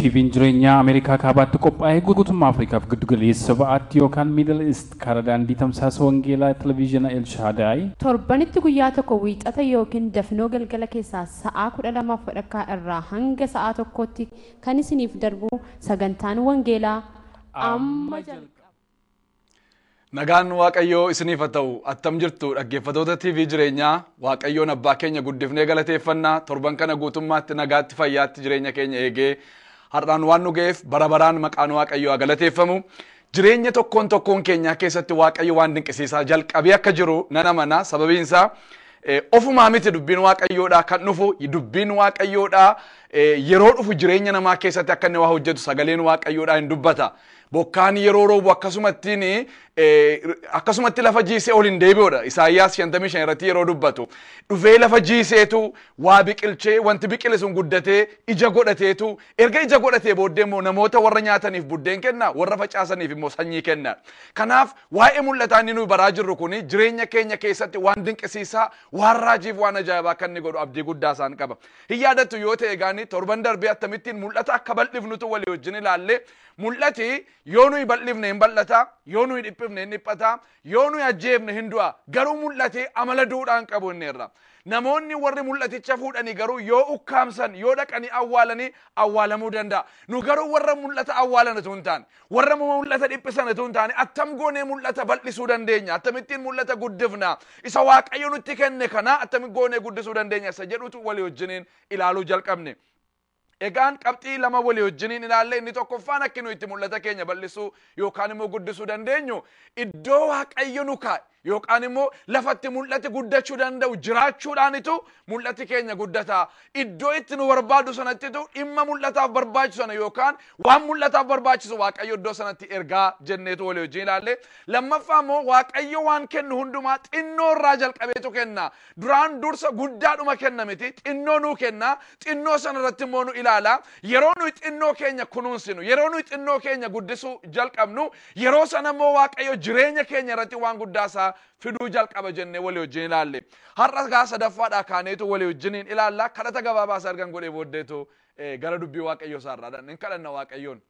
TVn jireenyaa Ameerikaa Kaabaatti qophaa'e guutummaa Afrikaaf Giddu Galeessa Ba'aatti yookaan Middle East karaa daandii tamsaasa wangeelaa Televiizhina El Shaadaay, Torbanitti guyyaa tokko Wiixata ykn Dafnoo galgala keessaa sa'aa 12:30 irraa hanga sa'aa 1tti kan isiniif darbu sagantaan wangeelaa amma jalqaba. Nagaan Waaqayyoo isiniif haa ta'u attam jirtu dhaggeeffatoota TV jireenyaa Waaqayyoon abbaa keenya guddifnee galateeffanna torban kana guutummaatti nagaatti fayyaatti jireenya keenya eegee har'aan waan nu ga'eef bara baraan maqaan Waaqayyoo haa galateeffamu. Jireenya tokkoon tokkoon keenyaa keessatti Waaqayyo waan dinqisiisaa jalqabee akka jiru nan amana sababiin isaa ofumaa miti dubbiin Waaqayyoodhaa kan dhufu dubbiin Waaqayyoodhaa yeroo dhufu jireenya namaa keessatti akka inni waa hojjetu sagaleen Waaqayyoodhaa hin dubbata. Bokkaan yeroo roobu akkasumattiin akkasumatti lafa jiisee ol hin deebi'udha. Isaayyaas 55 irratti yeroo dubbatu dhufee lafa jiiseetu waa biqilchee wanti biqile sun guddatee ija godhateetu erga ija godhatee booddee immoo namoota warra nyaataniif buddeen kenna warra facaasaniif immoo sanyii kenna. Kanaaf waa'ee mul'ataa inni nuyi baraa jirru kun jireenya keenya keessatti waan dinqisiisaa waan raajiif waan ajaa'ibaa kan inni godhu abdii guddaa isaan qaba. Hin yaadattu yoo ta'e egaanii torban darbee akkamittiin mul'ata akka bal'ifnutu walii wajjin ilaallee Mul'ati yoo nuyi bal'ifne hin bal'ata, yoo nuyi dhiphifne hin dhiphata, yoo nuyi ajjeefne hin du'a. Garuu mul'ati amala duudhaa hin qabu inni irra. Namoonni warri mul'aticha fuudhani garuu yoo ukkaamsan, yoo dhaqanii awwaalani awwaalamuu danda'a. Nu garuu warra mul'ata awwaalan utuu hin taane, warra mul'ata dhiphisan utuu hin taane attam goonee mul'ata bal'isuu dandeenya? Attamittiin mul'ata guddifna? Isa Waaqayyo nutti kenne kana attamitti goonee guddisuu dandeenya? Isa jedhutu walii wajjiniin ilaaluu jalqabne. Egaan qabxii lama walii wajjiniin ilaalle inni tokkoffaan akki nu itti mul'ata keenya bal'isuu yookaan immoo guddisuu dandeenyu iddoo waaqayyo nu kaa'e yookaan immoo lafatti mul'ati guddachuu danda'u jiraachuudhaanitu mul'ati keenya guddata iddoo itti nu barbaadu sanattitu dhimma mul'ataaf barbaachisu sana yookaan waan mul'ataaf barbaachisu waaqayyo iddoo sanatti ergaa jenneetu walii wajjin ilaalle lammaffaa immoo waaqayyo waan kennu hundumaa xinnoo irraa jalqabeetu kenna Duraan dursa guddaadhuma kenna miti, xinnoo nuu kenna, xinnoo sana irratti immoo nu ilaala. Yeroo nuyi xinnoo keenya kunuunsinu, yeroo nuyi xinnoo keenya guddisuu jalqabnu, yeroo sana immoo Waaqayyo jireenya keenya irratti waan guddaa isaa fiduu jalqaba jennee walii wajjin ilaalle. Har'a gaa sadaffaadhaa kaaneetu walii wajjiniin ilaalla. Kadhata gabaabaa isa ergan godhee booddeetu eh, gara dubbii Waaqayyoo isaa irraa dhan. Hin kadhanna Waaqayyoon.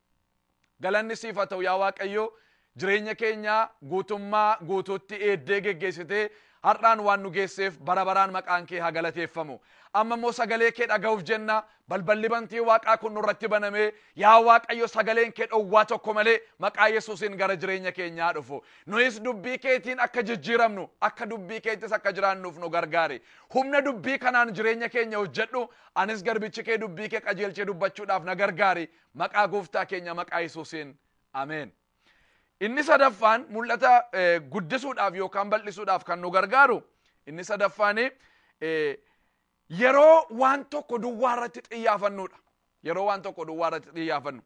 Galanni siif haa ta'u yaa Waaqayyo jireenya keenya guutummaa guutuutti eeddee geggeessitee har'aan waan nu geesseef bara baraan maqaan kee haa galateeffamu. Amma immoo sagalee kee dhaga'uuf jenna balballi bantii waaqaa kun nurratti banamee yaa Waaqayyo sagaleen kee dhowwaa tokko malee maqaa Yesuusiin gara jireenya keenyaa dhufu. Nuyis dubbii keetiin akka jijjiiramnu akka dubbii keettis akka jiraannuuf nu gargaari. Humna dubbii kanaan jireenya keenya hojjedhu anis garbichi kee dubbii kee qajeelchee dubbachuudhaaf na gargaari Maqaa gooftaa keenya maqaa Yesuusiin ameen. Inni sadaffaan mul'ata eh, guddisuudhaaf yookaan bal'isuudhaaf kan nu gargaaru inni sadaffaan eh, yeroo waan tokko duwwaa irratti xiyyaafannudha. Yeroo waan tokko duwwaa irratti xiyyaafannu.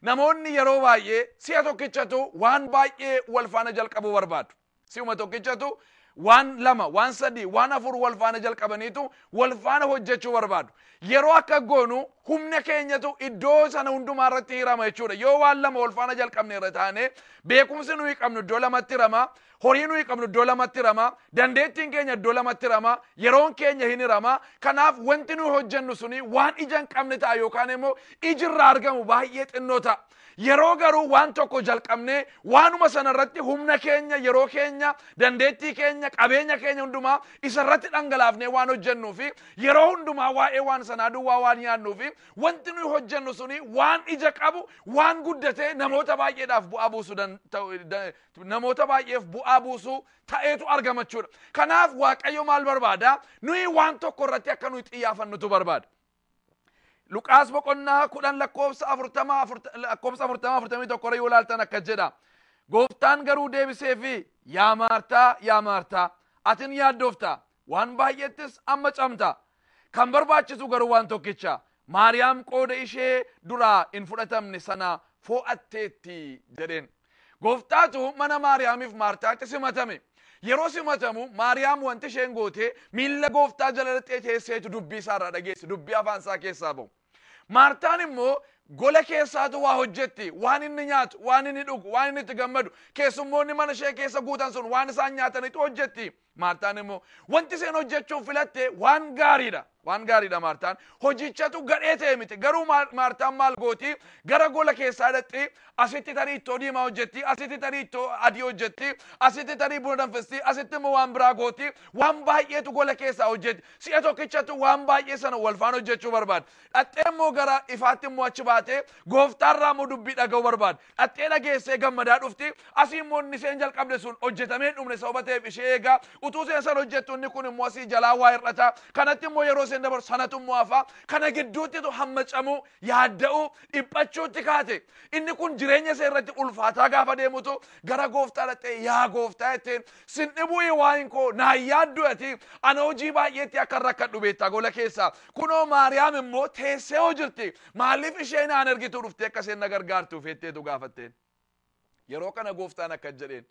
Namoonni yeroo baay'ee si'a tokkichatu waan baay'ee wal faana jalqabuu barbaadu. Si'uma tokkichatu waan lama, waan sadii, waan afur wal faana jalqabaniitu wal faana hojjechuu barbaadu. Yeroo akka goonu humna keenyatu iddoo sana hundumaa irratti hirama jechuudha. Yoo waan lama wal faana jalqabne irra taane beekumsi nuyi qabnu iddoo lamatti hirama, horii nuyi qabnu iddoo lamatti hirama, dandeettiin keenya iddoo lamatti hirama, yeroon keenya hin hirama. Kanaaf wanti nuyi hojjennu suni waan ija hin qabne ta'a yookaan immoo iji irraa argamu baay'ee xinnoo ta'a. Yeroo garuu waan tokko jalqabnee waanuma sana irratti humna keenya, yeroo keenya, dandeettii keenya, qabeenya keenya hundumaa isa irratti dhangalaafnee waan hojjennuu fi yeroo hundumaa waa'ee waan sanaa duwwaa waan yaadnuu fi wanti nuyi hojjennu suni waan ija qabu, waan guddatee namoota baay'eedhaaf bu'aa buusu dan- ta'u- da- namoota baay'eef bu'aa buusu ta'eetu argama jechuudha. Kanaaf Waaqayyo maal barbaada? Nuyi waan tokko irratti akka nuyi xiyyaafannutu barbaada. Luqaas boqonnaa kudhan lakkoofsa afurtama lakkoofsa afurtama afurtamii tokko irra yoo ilaaltan akka jedha. Gooftaan garuu deebisee fi yaa maartaa yaa maartaa atin yaaddoofta waan baay'eettis amma camta. Kan barbaachisu garuu waan tokkicha Maariyaam qooda ishee duraa hin fudhatamne sana foo'atteetti jedheen. Gooftaatu mana Maariyaamiif Maartaatti simatame. Yeroo simatamu Maariyaam wanti isheen goote miilla Gooftaa jala dhaqxee teesseetu dubbii isaa irraa dhageesse, dubbii afaan isaa keessaa ba'u. Maartaan immoo gola keessaatu waa hojjetti, waan inni nyaatu, waan inni dhugu, waan inni itti gammadu, keessummoonni mana ishee keessa guutan sun waan isaan nyaatanitu hojjetti. Maartaan immoo wanti isheen hojjechuuf filatte waan gaariidha. Waan gaariidha Maartaan. Hojichatu gadhee ta'e miti. Garuu Maar- Maartaan maal gooti? Gara gola keessaa dhaqxi, asitti tarii ittoo diimaa hojjetti, asitti tarii ittoo adii hojjetti, asitti tarii buna danfisti, asitti immoo waan biraa gooti. Waan baay'eetu gola keessaa hojjetti. Si'a tokkichatu waan baay'ee sana wal faana hojjechuu barbaaddi. Dhaqxee immoo gara ifaatti immoo achi baatee gooftaarraa immoo dubbii dhaga'uu barbaaddi. Dhaxxee dhageessee gammadaa dhufti. Asii immoo inni isheen jalqabde sun hojjetamee hin dhumne sababa ta'eef ishee eegaa. Utuu isheen san hojjettu inni kun immoo asii jalaa waa hir'ata. Kanatti immoo yeroo isheen dabarsu sanatu immoo hafa. Kana gidduuttitu hammacamuu, yaadda'uu, dhiphachuutti kaate. Inni kun jireenya ishee irratti ulfaataa gaafa deemutu gara gooftaa dhaxxee yaa gooftaa jetteen Sin dhibuuyi waa'in koo naan yaadduu ati ana hojii baay'eetti akkan rakkadhu beektaa gola keessa kunoo maariyaam immoo teessee hoo jirti maaliif ishee naan ergituu dhuftee akka isheen na gargaartu feetteetu gaafatteen yeroo kana gooftaan akkas jedheen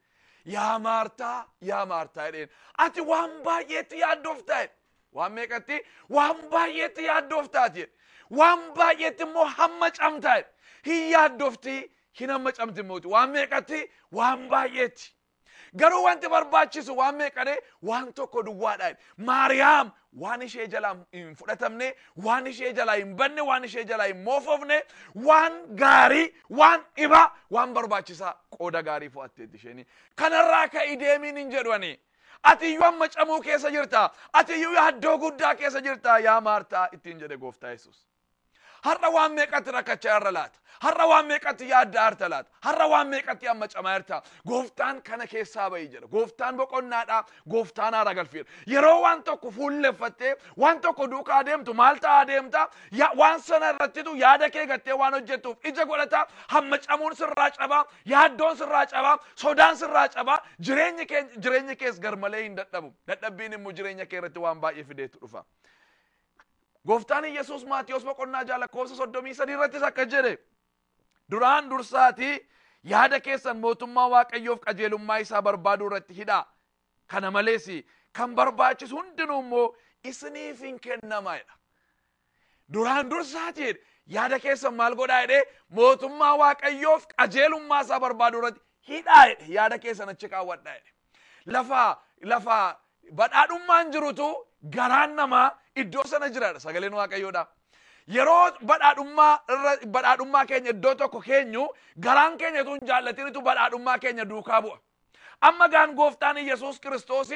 yaa maartaa yaa maartaa jedheen ati waan baay'eetti yaaddoftaa jedhe waan meeqatti waan baay'eetti yaaddoftaati jedhe waan baay'eetti immoo hamma camtaa jedhe hin yaaddofti hin hamma camti immoo waan meeqatti waan baay'eetti Garuu wanti barbaachisu waan meeqadhe waan tokko duwwaadha. Maariyaam waan ishee jalaa hin fudhatamne, waan ishee jalaa hin banne, waan ishee jalaa hin moofofne, waan gaarii, waan dhibaa, waan barbaachisaa qooda gaarii fo'atteetti isheen. Kanarraa ka'i deemiin hin jedhu ani. Ati iyyuu amma camuu keessa jirta. Ati iyyuu yaaddoo guddaa keessa jirta yaa Maartaa ittiin jedhe gooftaa Yesuus. Har'a waan meeqatti rakkachaa irra laata? Har'a waan meeqatti yaadda harta laata? Har'a waan meeqatti amma camaa jirta? Gooftaan kana keessaa bahi jedha. Gooftaan boqonnaadha. Gooftaan haara galfiidha. Yeroo waan tokko fuulleffattee waan tokko duukaa deemtu maal ta'aa deemta? Ya- Waan sana irrattitu yaada kee gattee waan hojjettuuf ija godhata. Hamma camuun sirraa cabaa, yaaddoon sirraa cabaa, sodaan sirraa cabaa, jireenyi kee jireenyi kees garmalee hin dadhabu. Dadhabbiin immoo jireenya kee irratti waan baay'ee fideetu dhufa. Gooftaan Yesuus Maatiyos boqonnaa ja'a lakkoofsa soddomii sadii irrattis akkas jedhe. Duraan dursaatii yaada keessan mootummaa Waaqayyoof qajeelummaa isaa barbaaduu irratti hidhaa. Kana malees kan barbaachisu hundinuu immoo isiniif hin kennama jedha. Duraan dursaatii yaada keessan maal godhaa jedhee mootummaa Waaqayyoof qajeelummaa isaa barbaaduu irratti hidhaa jedhe yaada keessan achi kaawwadhaa jedhe. Lafa lafa badhaadhummaan jirutu garaan namaa iddoo sana jiraadha sagaleen waaqayyoodha. Yeroo badhaadhummaa irra badhaadhummaa keenya iddoo tokko keenyu garaan keenya utuu hin jaallatinitu badhaadhummaa keenya duukaa bu'a. Amma gaan gooftaan Yesuus Kiristoos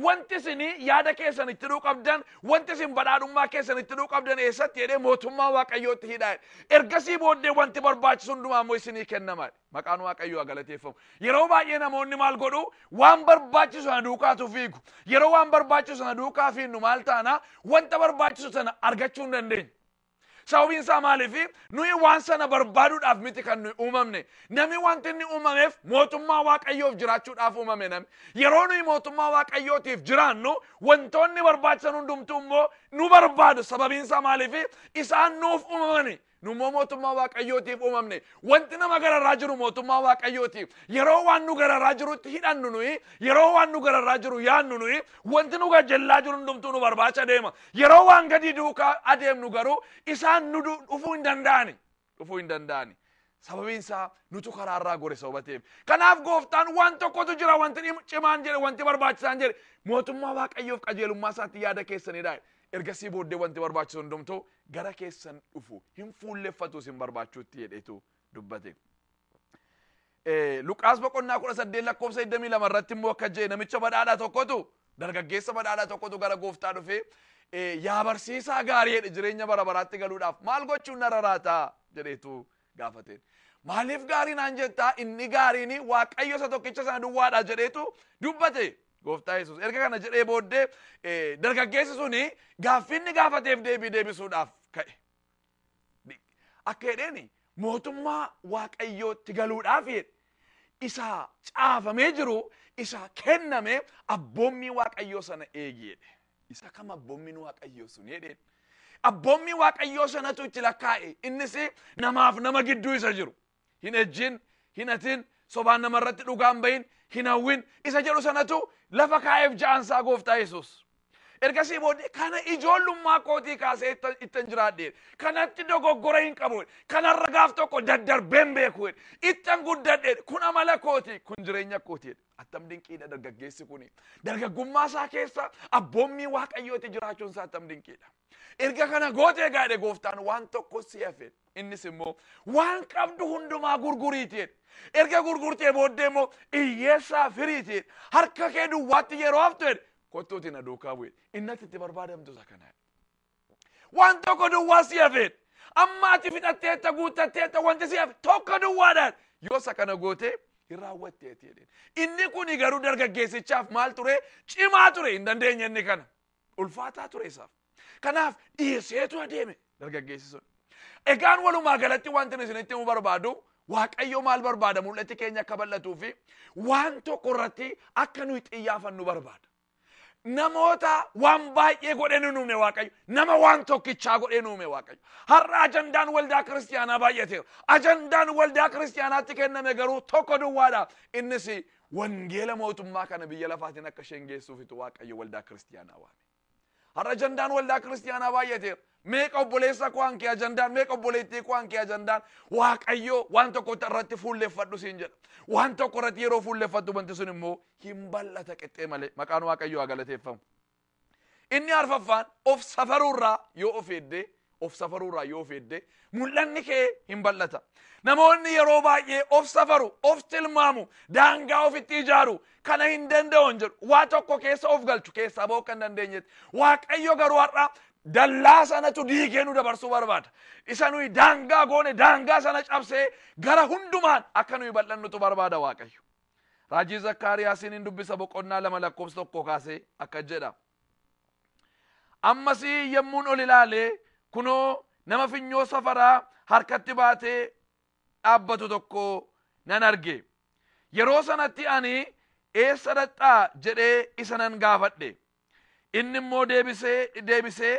wanti isin yaada keessan itti hidhuu qabdan wanti isin badhaadhummaa keessan itti hidhuu qabdan eessatti jedhee mootummaa waaqayyootti hidhaa. Ergasii booddee wanti barbaachisu hundumaa immoo isinii kennamaadha. Maqaan Waaqayyoo haa galateeffamu. Yeroo baay'ee namoonni maal godhu? Waan barbaachisu sana duukaatu fiigu. Yeroo waan barbaachisu sana duukaa fiinnu maal taana? Wanta barbaachisu sana argachuu hin dandeenyu. Sababiin isaa maaliifi? Nuyi waan sana barbaaduudhaaf miti kan nuyi uumamne. Namni wanti inni uumameef mootummaa Waaqayyoof jiraachuudhaaf uumame namni. Yeroo nuyi mootummaa Waaqayyootiif jiraannu wantoonni barbaachisan hundumtuu immoo nu barbaadu. Sababiin isaa maaliifi? Isaan nuuf uumamani. Nu immoo mootummaa Waaqayyootiif uumamne. Wanti nama gararraa jiru mootummaa Waaqayyooti. Yeroo waan nu gararraa jirutti hidhannu nuyi, yeroo waan nu gararraa jiru yaannu nuyi, wanti nu gajjallaa jiru hundumtuu nu barbaacha deema. Yeroo waan gadii duukaa adeemnu garuu isaan nu du- dhufuu hin danda'ani. Dhufuu hin danda'ani. Sababiin isaa nutu karaarraa gore sababa ta'eef. Kanaaf gooftaan waan tokkotu jira wanti dhim- cimaan jedhe wanti barbaachisaan jedhe mootummaa Waaqayyoof qajeelummaa isaatti yaada keessanidha. Ergasii booddee wanti barbaachisu hundumtuu gara keessan dhufu hin fuulleffatu isin barbaachuutti jedheetu dubbate. Luqaas boqonnaa kudha saddeet lakkoofsa digdamii lama irratti immoo akka jedhe namicha badhaadhaa tokkotu dargaggeessa badhaadhaa tokkotu gara gooftaa dhufee yaa barsiisaa gaarii jedhe jireenya bara baraatti galuudhaaf maal gochuun narra raataa jedheetu gaafateen. Maaliif gaarii naan jettaa inni gaariin waaqayyo isa tokkicha sana duwwaadha jedheetu dubbate. Gooftaa Yesuus erga kana jedhee booddee eh, dargaggeessi suni gaaffii inni gaafateef deebii deebisuudhaaf ka'e. Di- Akka jedheeni mootummaa waaqayyootti galuudhaaf jedhe. isa caafamee jiru isa kenname abboommii waaqayyoo sana eegi jedhe. isa kam abboommiin waaqayyoo sun jedheen abboommii waaqayyoo sanatu itti lakkaa'e innis namaaf nama gidduu isa jiru hin ejjin hin hatin sobaan nama irratti dhugaan bahin hin hawwin isa jedhu sanatu lafa kaa'eef ja'ansaa gooftaa yesus ergasii booddee kana ijoollummaa kootii kaasee itta- ittan jiraadhe kanatti dogoggora hin qabu kanarra gaaf tokko daddarbeen beeku ittan guddadhe kun amala kooti kun jireenya kooti jedhe. Attam dinqiidha dargaggeessi kun. Dargaggummaa isaa keessa abboommii waaqayyooti jiraachuun isaa attam dinqiidha. Erga kana gootee gaadhe gooftaan waan tokko si hafe. Innis immoo waan qabdu hundumaa gurguriiti. Erga gurgurtee booddee immoo hiyyeessaa firiiti. Harka kee duwwaatti yeroo haftu kottuuti na duukaa bu'e. Innatti itti barbaadamtu isa kana. Waan tokko duwwaa si hafeedha. Amma ati fixatteetta guuttatteetta wanti si hafe tokko duwwaadhaan yoo isa kana gootee hin raawwatteeti jedheen. Inni kuni garuu dargaggeessichaaf maal ture? Cimaa ture hin dandeenye inni kana. Ulfaataa ture isaaf. Kanaaf dhiiseetu adeeme dargaggeessi sun. Egaan walumaa galatti wanti nu isinitti himuu barbaadu Waaqayyo maal barbaada mul'atti keenya akka bal'atuu fi waan tokko irratti akka nuyi xiyyaafannu barbaada. Namoota waan baay'ee godhee nu uume Waaqayyo. Nama waan tokkichaa godhee nu uume Waaqayyo. Har'a ajandaan waldaa kiristiyaanaa baay'ateera. Ajandaan waldaa kiristiyaanaatti kenname garuu tokko duwwaadha. Innis wangeela mootummaa kana biyya lafaatiin akka isheen geessuufitu Waaqayyo waldaa kiristiyaanaa waame. Har'a ajandaan waldaa kiristiyaanaa baay'ateera. Meeqa obboleessa koo hanki ajandaan, meeqa obboleettii koo hanki ajandaan, Waaqayyoo waan tokko irratti fuulleffadhu siin jedha. Waan tokko irratti yeroo fuulleffattu wanti sun immoo hin bal'ata qixxee malee. Maqaan Waaqayyoo haa galateeffamu. Inni arfaffaan of safaruurraa yoo of eeddee, of safaruurraa yoo of eeddee, mul'anni kee hin bal'ata. Namoonni yeroo baay'ee of safaru, of tilmaamu, daangaa ofitti ijaaru, kana hin danda'an jedhu waa tokko keessa of galchu keessaa ba'uu kan dandeenyetti waaqayyo garuu har'a dallaa sanatu diigee nu dabarsuu barbaada isa nuyi daangaa goone daangaa sana cabsee gara hundumaan akka nuyi bal'annutu barbaada waaqayyo raajii zakkaariyaasiin hin dubbisa boqonnaa lama lakkoofsa tokko kaasee akka jedha ammas yemmuun ol ilaalee kunoo nama finyoo safaraa harkatti baatee dhaabbatu tokko nan arge. Yeroo sanatti ani eessa dhaqxaa jedhee isa nan gaafadhe. Inni immoo deebisee deebisee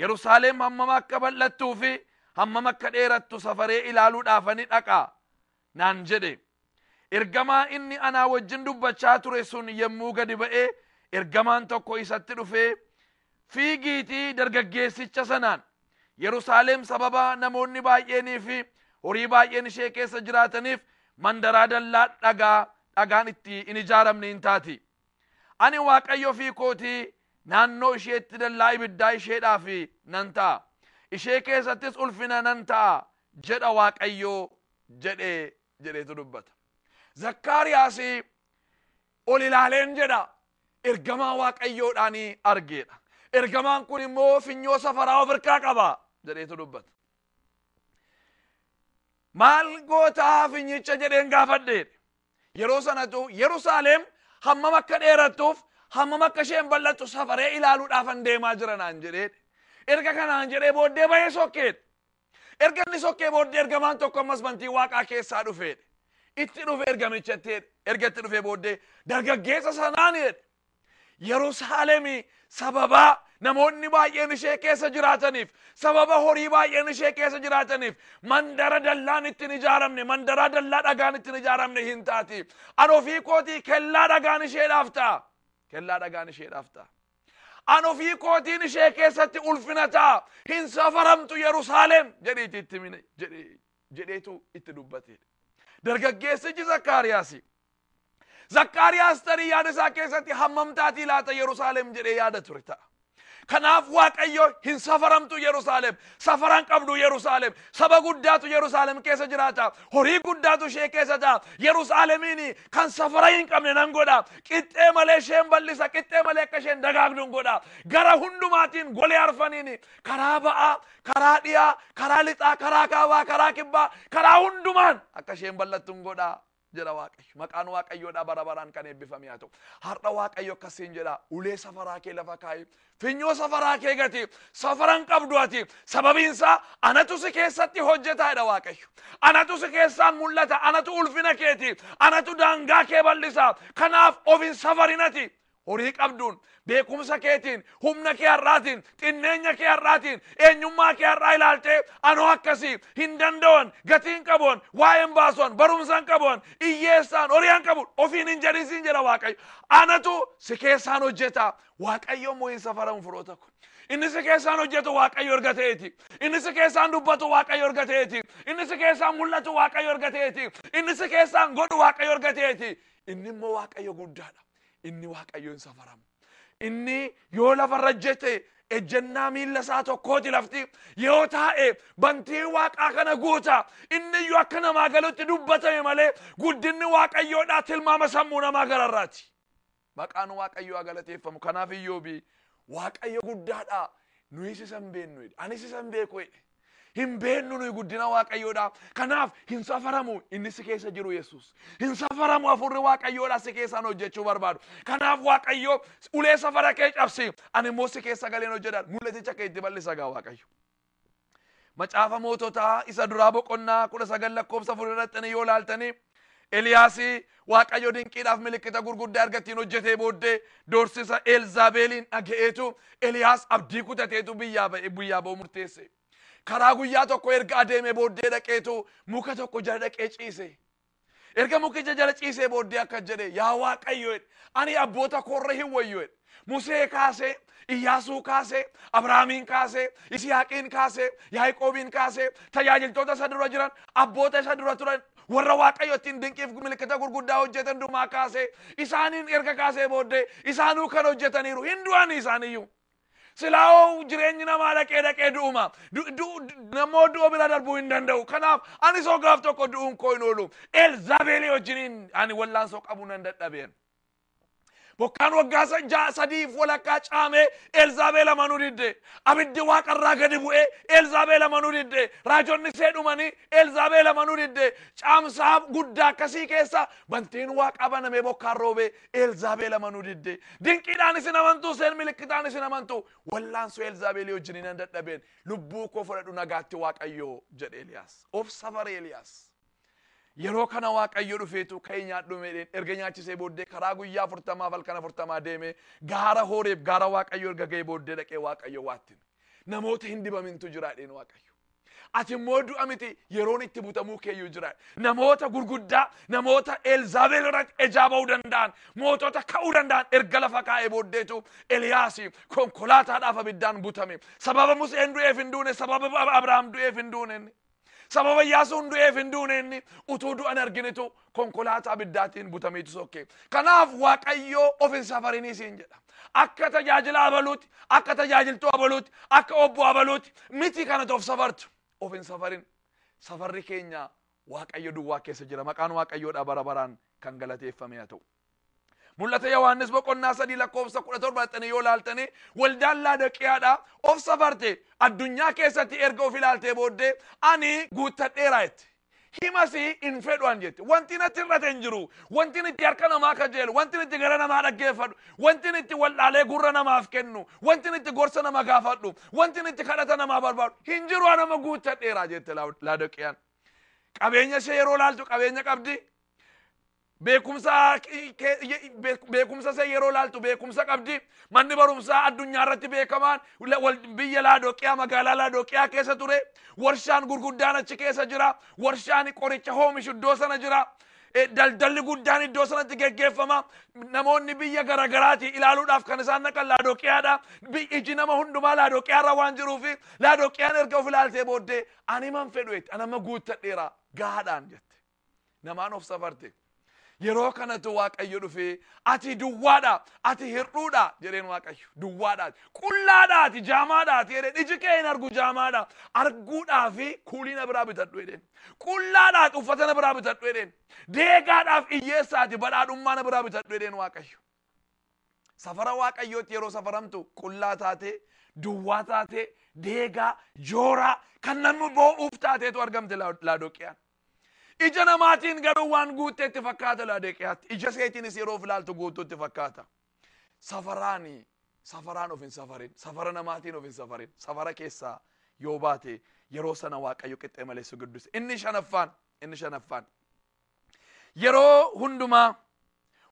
Yerusaalem hammam akka bal'attuu fi hammam akka dheerattu safaree ilaaluudhaafani dhaqa naan jedhe. Ergamaa inni anaa wajjin dubbachaa ture sun yommuu gadi ba'e ergamaan tokko isatti dhufee fiigiitii dargaggeessicha sanaan Yerusaalem sababa namoonni baay'eenii fi horii baay'een ishee keessa jiraataniif mandaraa dallaa dhagaa dhagaan itti hin ijaaramne hin taati. Ani Waaqayyo ofii kootii naannoo isheetti dallaa ibiddaa isheedhaaf nan ta'a. Ishee keessattis ulfina nan ta'a jedha Waaqayyo jedhe jedheetu dubbata. Zakkaariyaas ol ilaaleen jedha ergamaa waaqayyoodhaan argeedha. Ergamaan kun immoo finyoo safaraa of harkaa qaba jedheetu dubbata. Maal gootaa finyicha jedheen gaafadheedha. Yeroo sanatu Yerusaalem hammam akka dheerattuuf hammam akka isheen bal'attu safaree ilaaluudhaafan deemaa jira naan jedheedha. Erga kanaan jedhee booddee bahee sokkeedha. Erga inni sokkee booddee ergamaan tokko ammas bantii waaqaa keessaa dhufeedhe. Itti dhufe ergamichatti jedhe. Erga itti dhufee booddee dargaggeessa sanaan jedhe. Yerusaalemii sababaa namoonni baay'een ishee keessa jiraataniif sababa horii baay'een ishee keessa jiraataniif mandara dallaan ittiin ijaaramne mandaraa dallaa dhagaan ittiin ijaaramne hin taati. An ofii kootii kellaa dhagaan isheedhaaf ta'a. Kellaa dhagaan isheedhaaf ta'a. An ofii kootiin ishee keessatti ulfina ta'a. Hin safaramtu Yerusaalem jedhiitii itti himi jedhee- jedheetu itti dubbate. Dargaggeessichi Zakkaariyaasi. Zakkaariyaas tarii yaada isaa keessatti hammam taatii laata Yerusaalem jedhee yaada ture ta'a. Kanaaf Waaqayyo hin safaramtu Yerusaalem Safara hin qabdu Yerusaalem. Saba guddaatu Yerusaalem keessa jiraata. Horii guddaatu ishee keessa ta'a. Yerusaalemiin kan safara hin qabne nan godha. Qixxee malee isheen bal'isa. Qixxee malee akka isheen dagaagdu hin godha. Gara hundumaatiin golee arfaniin karaa ba'aa, karaa dhiyaa, karaa lixaa, karaa kaabaa, karaa kibbaa, karaa hundumaan akka isheen bal'attu hin godha. jedha Waaqayyo. Maqaan Waaqayyoodhaa bara baraan kan eebbifame haa ta'u. Har'a Waaqayyo akkas siin jedha ulee safaraa kee lafa kaa'i. Finyoo safaraa kee gati. Safaran qabdu ati. Sababiin isaa anatu si keessatti hojjetaa jedha Waaqayyo. Anatu si keessaan mul'ata. Anatu ulfina keeti. Anatu daangaa kee bal'isa. Kanaaf of hin safarinati. Horii qabduun, beekumsa keetiin, humna kee har'aatiin, xinneenya kee har'aatiin, eenyummaa kee har'aa ilaaltee anoo akkasii hin danda'an, gatii hin qabuan, waa'ee hin baasuan, barumsa hin qabuan, hiyyeessaan, horii hin qabu ofiin hin jedhin siin jedha Waaqayyo. Anatu si keessaan hojjeta. Waaqayyo immoo hin safaramu firoota koo. Inni si keessaan hojjetu Waaqayyo erga ta'eeti. Inni si keessaan dubbatu Waaqayyo erga ta'eeti. Inni si keessaan mul'atu Waaqayyo erga ta'eeti. Inni si keessaan godhu Waaqayyo erga ta'eeti. Inni immoo Waaqayyo guddaadha. Inni waaqayyo hin safaramu. Inni yoo lafarra jete ejjennaa miilla isaa tokkooti lafti yoo taa'e bantii waaqaa kana guuta inni iyyuu akka namaa galutti dubbatame malee guddinni waaqayyoodhaa tilmaama sammuu namaa gararraati. Maqaan waaqayyoo haa galateeffamu kanaaf iyyoobi waaqayyo guddaadha nuyis isa hin beeknu jedhe anis isa hin beeku jedhe. Hin beennu nuyi guddina Waaqayyoodha. Kanaaf hin safaramu inni si keessa jiru Yesuus. Hin safaramu hafuurri Waaqayyoodha si keessaan hojjechuu barbaadu. Kanaaf Waaqayyo ulee safara kee cabsi ani immoo si keessa galeen hojjedha. Mul'aticha kee itti bal'isa gaa Waaqayyo. Macaafa moototaa isa duraa boqonnaa kudha sagal lakkoofsa afur irratti yoo laaltanii Eliyaasi Waaqayyo dinqiidhaaf milikkita gurguddaa erga ittiin hojjetee booddee doorsisa Eelzaabeeliin dhaga'eetu Eliyaas abdii kutateetu biyyaa ba'e biyyaa ba'uu murteesse. Karaa guyyaa tokko erga adeeme booddee dhaqeetu muka tokko jala dhaqee ciise. Erga mukicha jala ciisee booddee akka jedhe yaa Waaqayyo jedhe ani abboota koorra hin wayyu jedhe. Musee kaasee, Iyyaasuu kaasee, Abrahaamiin kaasee, Isiyaaqiin kaasee, Yaaqoobiin kaasee, tajaajiltoota isa dura jiran, abboota isa dura turan, warra Waaqayyo ittiin dinqiif milikkita gurguddaa hojjetan dumaa kaasee, isaaniin erga kaasee booddee isaanuu kan hojjetaniiru hin du'anii isaaniyyuu. Silaa'oo jireenyi namaa dhaqee dhaqee du'uma. Du- du- du- Namoo du'a bira darbuu hin danda'u. Kanaaf anis hoo gaaf tokko du'uun koo hin oolu. Elzaabeelii wajjiniin ani wallaansoo qabu nan dadhabeen. Bokkaan waggaa sa- ja'a sadiif walakkaa caamee Elzaabeel amanuu didde. Abiddi waaqa irraa gadi bu'ee Elzaabeel amanuu didde. Raajonni ishee dhumanii Elzaabeel amanuu didde. Caamsaa guddaa akkasii keessa bantiin waaqaa banamee bokkaan roobee Elzaabeel amanuu didde. Dinqiidhaan isin amantuu seen milikkitaan isin amantuu. Wallaansoo Elzaabeelii wajjin nan dadhabeen lubbuu koo fudhadhu nagaatti waaqayyoo jedhe Eliyaas. Obsa bare Eliyaas. Yeroo kana Waaqayyo dhufeetu ka'ii nyaadhu meedheen erga nyaachisee booddee karaa guyyaa afurtamaaf halkan afurtamaa deemee gaara hooreef gaara Waaqayyo erga ga'ee booddee dhaqee Waaqayyo waattin. Namoota hin dibamintu jiraadheen Waaqayyo. Ati immoo du'a miti yeroon itti butamuu keeyyuu jira. Namoota gurguddaa, namoota Elzaabeel irratti ejaa ba'uu danda'an, mootota ka'uu danda'an erga lafa kaa'ee booddeetu Eliyaas konkolaataadhaaf abiddaan butame. Sababa Museen du'eef hin duune, sababa Abrahaam du'eef hin duune. Sababa Iyyaasuun du'eef hin duune inni utuu du'an arginitu konkolaataa abiddaatiin butameetu sokke. Kanaaf Waaqayyoo of hin safarinii siin jedha. Akka tajaajila abaluuti, akka tajaajiltuu abaluuti, akka obbo abaluuti miti kanatu of safartu. Of hin safarin. Safarri keenya Waaqayyo duwwaa keessa jira. Maqaan Waaqayyoodhaa bara baraan kan galateeffame haa ta'u. Mul'ata Yohaannis boqonnaa sadii lakkoofsa kudha torba dhaqxanii yoo ilaaltanii waldaan laadaqiyaadha of safarte addunyaa keessatti erga of ilaaltee booddee ani guuttadheera jette. Himasi hin fedhuan jette. Wanti natti irrate hin jiru. Wanti itti harka namaa kajeelu, wanti itti gara namaa dhaggeeffadhu, wanti itti wal'aalee gurra namaaf kennu, wanti itti gorsa nama gaafadhu, wanti itti kadhata namaa barbaadu hin jiru an amma guuttadheera jette laadaqiyaan. Qabeenya ishee yeroo ilaaltu qabeenya qabdi. Beekumsa beekumsa see yeroo laaltu beekumsa qabdi. Manni barumsaa addunyaa irratti beekamaan biyya Laadoqiyaa magaalaa Laadoqiyaa keessa ture. Warshaan gurguddaan achi keessa jira. Warshaan qoricha hoomishu iddoo sana jira. Daldalli guddaan iddoo sanatti geggeeffama. Namoonni biyya garagaraati ilaaluudhaaf kan isaan naqan Laadoqiyaadha. Iji nama hundumaa Laadoqiyaarra waan jiruuf Laadoqiyaan erga of ilaaltee booddee ani man fedhu jetti. Ani amma guuttadheera gaadhaan jette. Namaan of safarte. Yeroo kanatu Waaqayyo dhufee ati duwwaadha, ati hir'uudha jedheen Waaqayyo. Duwwaadha, qullaadha, ati jaamaadha, ati jedheen iji kee hin argu jaamaadha. Arguudhaaf kuulii na biraa bitadhu jedheen. Qullaadha, ati uffata na biraa bitadhu jedheen. Deegaadhaaf hiyyeessa ati badhaadhummaa na biraa bitadhu jedheen Waaqayyo. Safara Waaqayyootti yeroo safaramtu qullaa taatee, duwwaa taatee, deegaa, jooraa kan namni boo'uuf taateetu argamte Laadoqiyaan. Ija namaatiin garuu waan guutteetti fakkaata laadeqiyaatti. Ija seetiinis yeroo filaaltu guutuutti fakkaata. Safaraani safaraan of hin safarin. Safara namaatiin of hin safarin. Safara keessaa yoo baate yeroo sana waaqayyo qixxee malee si guddisa. Inni shanaffaan inni shanaffaan yeroo hundumaa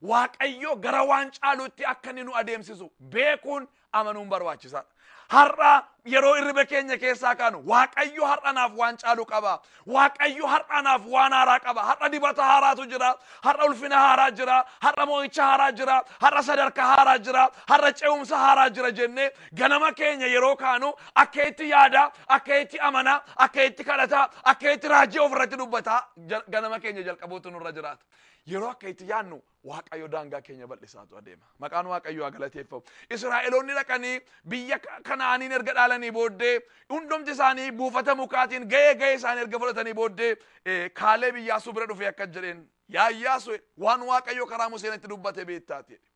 Waaqayyo gara waan caaluutti akka inni nu adeemsisu beekuun amanuun barbaachisaadha. Har'a yeroo irriba keenya keessaa kaanu Waaqayyo har'a naaf waan caalu qaba. Waaqayyo har'a naaf waan haaraa qaba. Har'a dibata haaraatu jira. Har'a ulfina haaraa jira. Har'a mo'icha haaraa jira. Har'a sadarkaa haaraa jira. Har'a ce'umsa haaraa jira jennee ganama keenya yeroo kaanu akka itti yaada, akka itti amana, akka itti kadhata, akka itti raajii ofirratti dubbata ganama keenya jalqabuutu nurra jiraata. Yeroo akka itti yaadnu Waaqayyo daangaa keenya bal'isaatu adeema. Maqaan Waaqayyoo haa galateeffamu. Israa'eloonni dhaqanii biyya Kana'aaniin erga dhaalanii booddee hundumti isaanii buufata mukaatiin ga'ee ga'ee isaanii erga fudhatanii booddee kaalee biyyaasuu bira dhufee akka jedheen yaa Iyyaasuu waan Waaqayyo karaa Museen itti dubbate beektaati jedhe.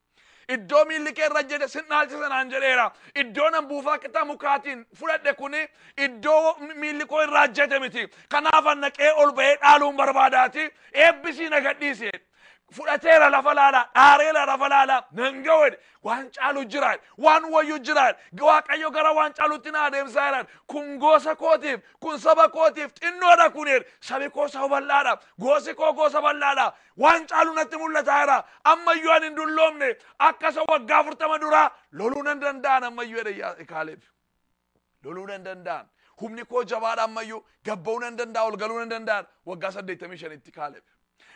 Iddoo miilli kee irra jedhe sin dhaalchisa naan jedheera. Iddoo nan buufaa qixa mukaatiin fudhadhe kuni iddoo miilli koo irraa hojjete miti. Kanaaf anna qee ol ba'ee dhaaluun barbaadaati. Eebbisii na gadhiisi. Fudhateera lafa laalaa, dhaareera lafa laalaa, nan ga'oodhe. Waan caalu jiraadhe, waan wayyu jiraadhe. Waaqayyo gara waan caalutti na adeemsaa jiraadhe. Kun gosa kootiif, kun saba kootiif xinnoodha kuneer. Sabi koo saba bal'aadha, gosi koo gosa bal'aadha. Waan caalu natti mul'ataa jira. Ammayyuu ani hin dulloomne. Akka isa waggaa afurtama duraa loluu nan danda'an ammayyuu jedhe Yaa- Kaaleeb. Loluu nan danda'an. Humni koo jabaadha ammayyuu. Gabba'uu nan danda'a, ol galuu nan danda'an. Waggaa 85tti Kaaleeb.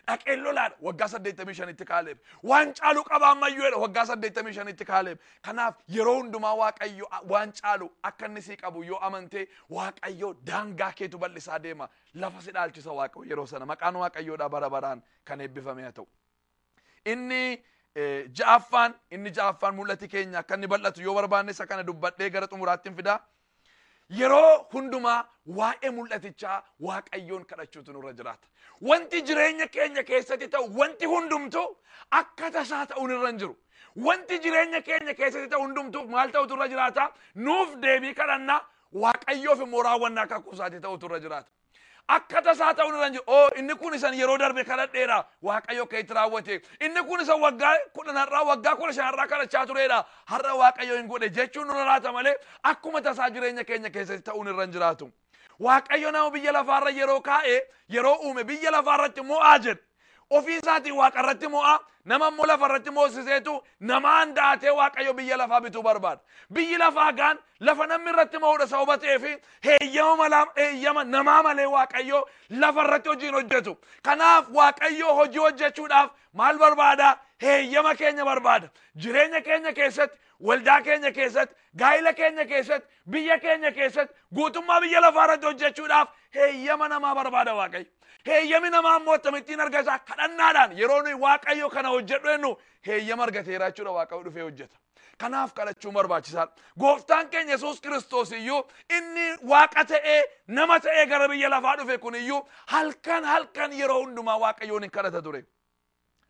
Dhaqeen lolaadha waggaa 85tti Kaaleeb. Waan caalu qaba ammayyuu jedha waggaa 85tti Kaaleeb. Kanaaf yeroo hundumaa Waaqayyo waan caalu akka inni sii qabu yoo amantee Waaqayyo daangaa keetu bal'isaa deema. lafa si dhaalchisa Waaqayyo yeroo sana. Maqaan Waaqayyoodhaa bara baraan kan eebbifame haa ta'u. Inni eh, ja'affaan inni ja'affaan mul'ati keenya akka inni bal'atu yoo barbaanne isa kana dubbadhee gara xumuraatti hin fidaa. Yeroo hundumaa waa'ee mul'atichaa Waaqayyoon kadhachuutu nurra jiraata. Wanti jireenya keenya keessatti ta'u wanti hundumtu akka tasaa ta'uun irra hin jiru. Wanti jireenya keenya keessatti ta'u hundumtu maal ta'utu irra jiraata? Nuuf deebii kadhannaa Waaqayyoof immoo raawwannaa kakuu isaati ta'utu irra jiraata. Akka tasaa ta'uun irra hin jiru. Oo inni kun isan yeroo darbe kadhadheera Waaqayyo akka itti raawwate. Inni kun isan waggaa kudhan har'aa waggaa kudha shan har'aa kadhachaa tureedha. Har'a Waaqayyo hin godhe jechuun nurra laata malee akkuma tasaa jireenya keenya keessatti ta'uun irra hin jiraatu. Waaqayyo nama biyya lafaarra yeroo kaa'e yeroo uume biyya lafaarratti mo'aa jedhe. Ofii isaatiin waaqa irratti mo'a, nama immoo lafa irratti moosiseetu namaan daatee waaqayyo biyya lafaa bituu barbaada. Biyyi lafaa gaan lafa namni irratti mo'uudha sababa ta'eef heeyyama malaa heeyyama namaa malee waaqayyo lafa irratti hojii hin hojjetu. Kanaaf waaqayyo hojii hojjechuudhaaf maal barbaada? Heeyyama keenya barbaada. Jireenya keenya keessatti, waldaa keenya keessatti, gaa'ila keenya keessatti, Biyya keenya keessatti guutummaa biyya lafaa irratti hojjechuudhaaf heeyyama namaa barbaada Waaqayyo. Heeyyami namaa immoo akkamittiin argata? Kadhannaadhaan yeroo nuyi Waaqayyo kana hojjedhu jennu heeyyama argateera jechuudha Waaqayyo dhufee hojjeta. Kanaaf kadhachuun barbaachisaadha. Gooftaan keenya Yesuus Kiristoos iyyuu inni waaqa ta'ee nama ta'ee gara biyya lafaa dhufe kun iyyuu halkan halkan yeroo hundumaa Waaqayyoon hin kadhata ture.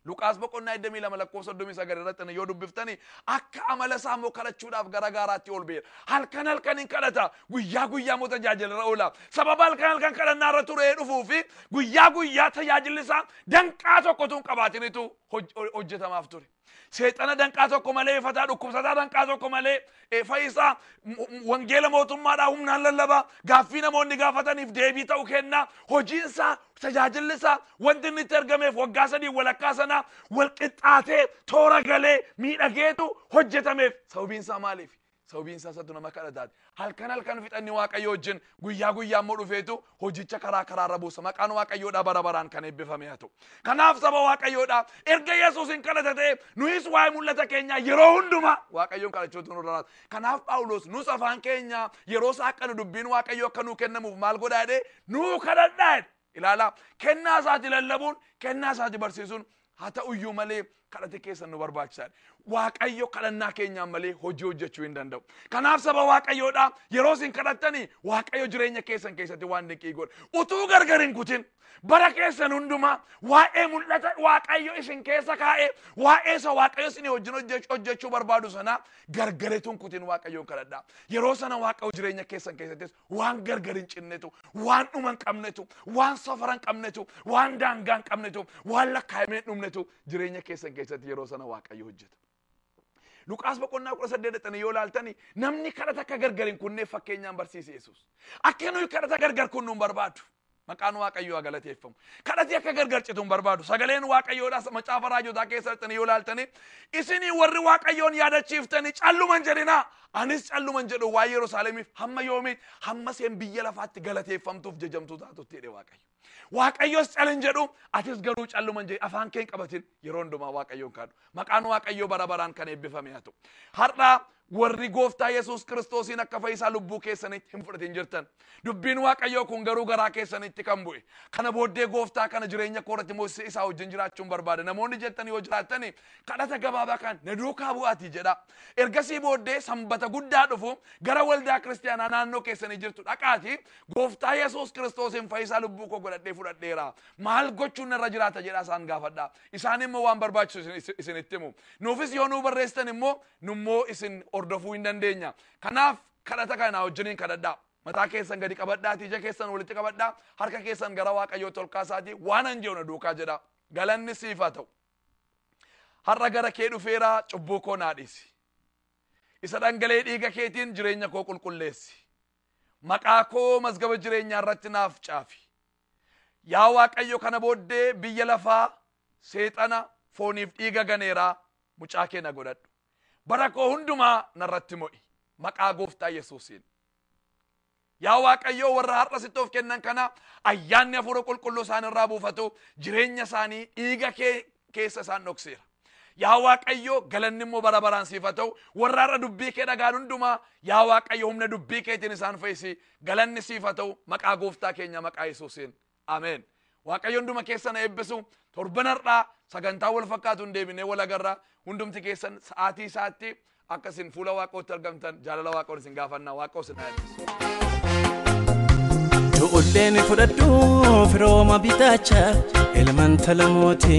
Luqaas boqonnaa 22 lakkoofsa 39 irratti yoo dubbiftani akka amala isaa immoo kadhachuudhaaf gara gaaraatti ol ba'eera. Halkan halkan hin kadhata guyyaa guyyaa immoo tajaajila irra oola. Sababa halkan halkan kadhannaa irra turee dhufuu fi guyyaa guyyaa tajaajilli isaa danqaa tokko tun qabaatinitu hoj- hojjetamaaf ture. Seexana danqaa tokko malee, fataa dhukkubsataa danqaa tokko malee, eh, fayisaa m- m- wangeela mootummaadhaa humnaan lallabaa gaaffii namoonni gaafataniif deebii ta'u kennaa hojiinsaa tajaajillisaa wanti inni itti ergameef waggaa sadii walakkaa sanaa walqixxaatee toora galee miidhageetu hojjetameef sababiinsaa maaliif sababiinsaa isatu nama kadhataati halkan halkan fixanni waaqayyo wajjin guyyaa guyyaa immoo dhufeetu hojicha karaa karaa irra buusa maqaan waaqayyoodhaa bara baraan kan eebbifame haa ta'u kanaaf saba waaqayyoodhaa erga yesuusin kadhata ta'e nuyis waa'ee mul'ata keenyaa yeroo hundumaa waaqayyoon kadhachuutu nurra laata kanaaf phaawulos nus afaan keenya yeroo saaqqanu dubbiin waaqayyoo akka nuu kennamuuf maal godhaa jedhee nuu kadhadhaa jedhe ilaalaa kennaa isaati lallabuun kennaa isaati barsiisuun Haa ta'u iyyuu malee kadhati keessan nu barbaachisaadha. Waaqayyo kadhannaa keenyaan malee hojii hojjechuu hin danda'u. Kanaaf saba Waaqayyoodha yeroo isin kadhattanii Waaqayyo jireenya keessan keessatti waan dinqii godha. Utuu gargar hin kutin bara keessan hundumaa waa'ee mul'ata Waaqayyo isin keessa kaa'e waa'ee isa Waaqayyo isin wajjin hojjech- hojjechuu barbaadu sanaa gargaretuun kutin Waaqayyoon kadhadha. Yeroo sana Waaqayyo jireenya keessan keessattis waan gargar hin cinnetu waan dhuma hin qabnetu waan safara hin qabnetu waan daangaa hin qabnetu waan lakkaa'amee hin dhumnetu jireenya keessan keessatti yeroo sana waaqayyo hojjeta. Luqaas boqonnaa kudha saddeet dhaqxanii yoo ilaaltani namni kadhata akka gargar hin kunnee fakkeenyaan barsiise Yesuus. Akka nuyi kadhata gargar kunnu hin barbaadu. Maqaan Waaqayyoo haa galateeffamu. Kadhati akka gargar citu hin barbaadu. Sagaleen Waaqayyoodhaas macaafa raajotaa keessa dhaqxanii yoo laaltanii isinii warri Waaqayyoon yaadachiiftanii calluman jedhinaa. Anis calluman jedhu waa Yerusaalemiif hamma yoomii hamma seen biyya lafaatti galateeffamtuuf jajamtuu taatutti jedhe Waaqayyo. Waaqayyos calin jedhu atis garuu calluman jedhe afaan keen qabatin yeroo hundumaa Waaqayyoon kaadhu. Maqaan Waaqayyoo bara baraan kan eebbifame haa ta'u. Har'aa Warri Gooftaa Yesuus Kiristoosiin akka fayyisaa lubbuu keessaniitti hin fudhatin jirtan. Dubbiin Waaqayyoo kun garuu garaa keessaniitti kan bu'e. Kana booddee Gooftaa kana jireenya koo irratti moosisee isaa wajjin jiraachuun barbaada. Namoonni jettan yoo jiraattani kadhata gabaabaa kan na duukaa bu'aatii jedhaa. Ergasii booddee sanbata guddaa dhufu gara waldaa kiristaanaa naannoo keessanii jirtu dhaqaatii Gooftaa Yesuus Kiristoosiin fayyisaa lubbuu koo godhadhee fudhadheera. Maal gochuun narra jiraata jedhaa isaan gaafadhaa. Isaan immoo waan barbaachisu isin- isin- isinitti himu. Nuufis yoo nuu barreessitan immoo nu immoo isin hordofuu hin dandeenya. Kanaaf kadhata kana naa wajjiniin kadhadhaa. Mataa keessan gadi qabadhaatii ija keessan walitti qabadhaa harka keessan gara Waaqayyootti ol kaasaatii waan an jedhu na duukaa jedhaa. Galanni siif haa ta'u. Har'a gara kee dhufeeraa cubbuu koo naa dhiisi. Isa dhangala'ee dhiiga keetiin jireenya koo qulqulleessi. Maqaa koo mazgaba jireenyaa irratti naaf caafi. Yaa Waaqayyo kana booddee biyya lafaa seexana fooniif dhiiga ganeeraa mucaa kee na godhadhu bara koo hundumaa narratti mo'i maqaa gooftaa yesuusiin yaa waaqayyoo warra har'a sitti of kennan kana ayyaanni hafuura qulqulluu isaan irraa buufatu jireenya isaanii dhiiga kee keessa isaan dhokseera yaa waaqayyoo galanni immoo bara baraan siif haa ta'u warra har'a dubbii kee dhagaan hundumaa yaa waaqayyo humna dubbii keetiin isaan fayyisi galanni siif haa ta'u maqaa gooftaa keenya maqaa yesuusiin Ameen. Waaqayyo hunduma keessan haa eebbisu. Torban har'aa sagantaa wal fakkaatuun deebinee wal agarra. Hundumti keessan sa'aatii isaatti akka isin fuula waaqootti argamtan jaalala waaqoon isin gaafanna. Waaqoo isin haa eebbisu. Du'ullee ni fudhadhu firooma bitaacha ilmaan talamooti.